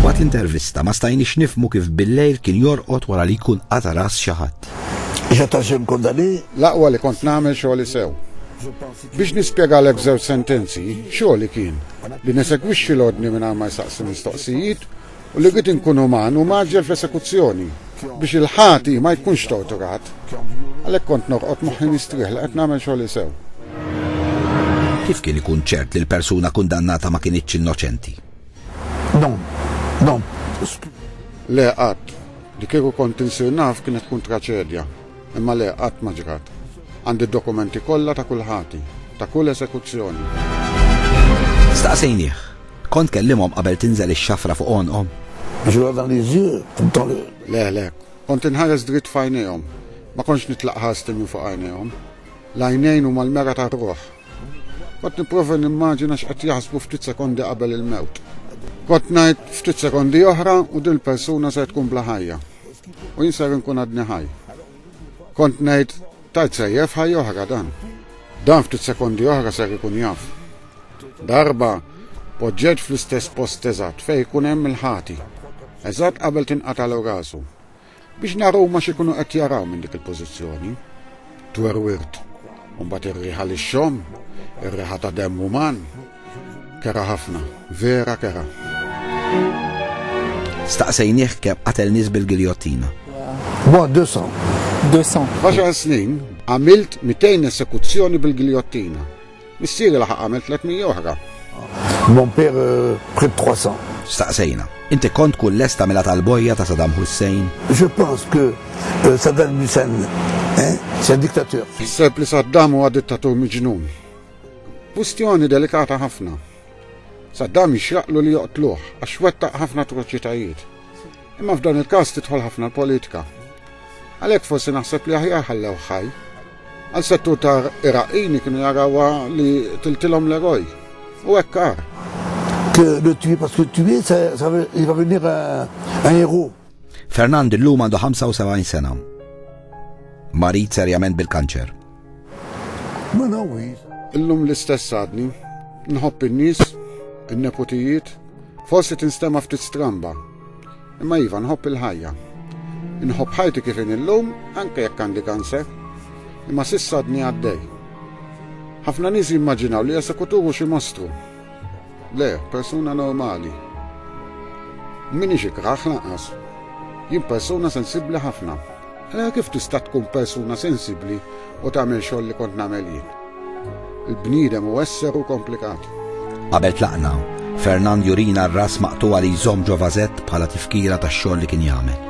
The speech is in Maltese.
Waqt l-intervista ma stajniex nifmu kif bil-lejl kien jorqod wara li jkun qata ras xi ħadd. L-aqwa li kont nagħmel xogħli sew. Biex nispjegalek f'żewġ sentenzi, xogħli kien li nesegwixxi l-ordni mingħajr ma jsaqsi mistoqsijiet u li jrid inkun uman u mgħaġġel fl-esekuzzjoni, biex il-ħati ma jkunx torturat. Għalhekk kont norqod moħħi mistrieħ li qed nagħmel xogħli sew. Kif kien ikun ċert li l-persuna kundannata ma kinitx innoċenti? Le, qatt. Li kieku kont insir naf kienet tkun traċedja. Imma le, qatt ma ġrat. Għandi d-dokumenti kollha ta' kull ħati, ta' kull esekuzzjoni. Staqsejnieh. Kont tkellimhom qabel tinżel ix-xafra fuq għonqhom? Je leur dans les yeux, dans le. Le, le. Kont inħares dritt f'għajnejhom. Ma kontx nitlaq ħarsti minn fuq għajnejhom. L-għajnejn huma l-mera tar-ruħ. Kont nipprova nimmaġina x'qed jaħsbu ftit sekondi qabel il-mewt. Kont ngħid ftit sekondi oħra u din il-persuna ser tkun bla ħajja. U jien ser inkun għadni ħaj. Kont ngħid tajt sejjef ħajja oħra dan. Dan ftit sekondi oħra ser ikun jaf. Darba poġġet fl-istess post eżatt fejn ikun hemm il-ħati. Eżatt qabel tinqatalu rasu. Biex naraw ma xikunu qed jaraw minn dik il-pożizzjoni. Twerwirt. Mbagħad ir-riħa lix-xom, ir-riħa ta' demm uman, Kera ħafna, vera kera. Staqsejnieh kemm qatel nies bil-giljottina. Bogħod deux cents. Deux cents. F'għaxar snin għamilt 200 esekuzzjoni bil-giljottina. Missieri laħaq għamel 300 oħra. Mon père près de 300. Staqsejna, inti kont tkun lest tagħmilha tal-bojja ta' Saddam Hussein? Je pense que euh, Saddam Hussein c'est un dictateur. Ħseb li Saddam huwa dittatur miġnun. Kwistjoni delikata ħafna. Saddam jixraqlu li joqtluh għax wettaq ħafna atroċitajiet. Imma f'dan il-każ tidħol ħafna l-politika. Għalhekk forsi naħseb li aħjar ħallew ħaj. Għal settur ta' Iraqini kienu jarawa li tiltilhom l-eroj. U hekk għar. Fernand illum għandu 75 sena. Marid serjament bil-kanċer. Ma nawwir. Illum l-istess għadni. Nħobb in-nies, in-neputijiet, forsi tinstema' ftit stramba. Imma iva nħobb il-ħajja. Inħobb ħajti kif in illum anke jekk għandi kanser. Imma s'issa għadni għaddej. Ħafna nies jimmaġinaw li esekutur hu xi mostru. Le, persuna normali. M'iniex ikrah lanqas. Jien persuna sensibbli ħafna. Allura kif tista' tkun persuna sensibbli u tagħmel xogħol li kont nagħmel jien? Il-bniedem hu esser u komplikat. Qabel tlaqna, Fernand jurina r-ras maqtugħa li jżomm ġo vażett bħala tifkira tax-xogħol li kien jagħmel.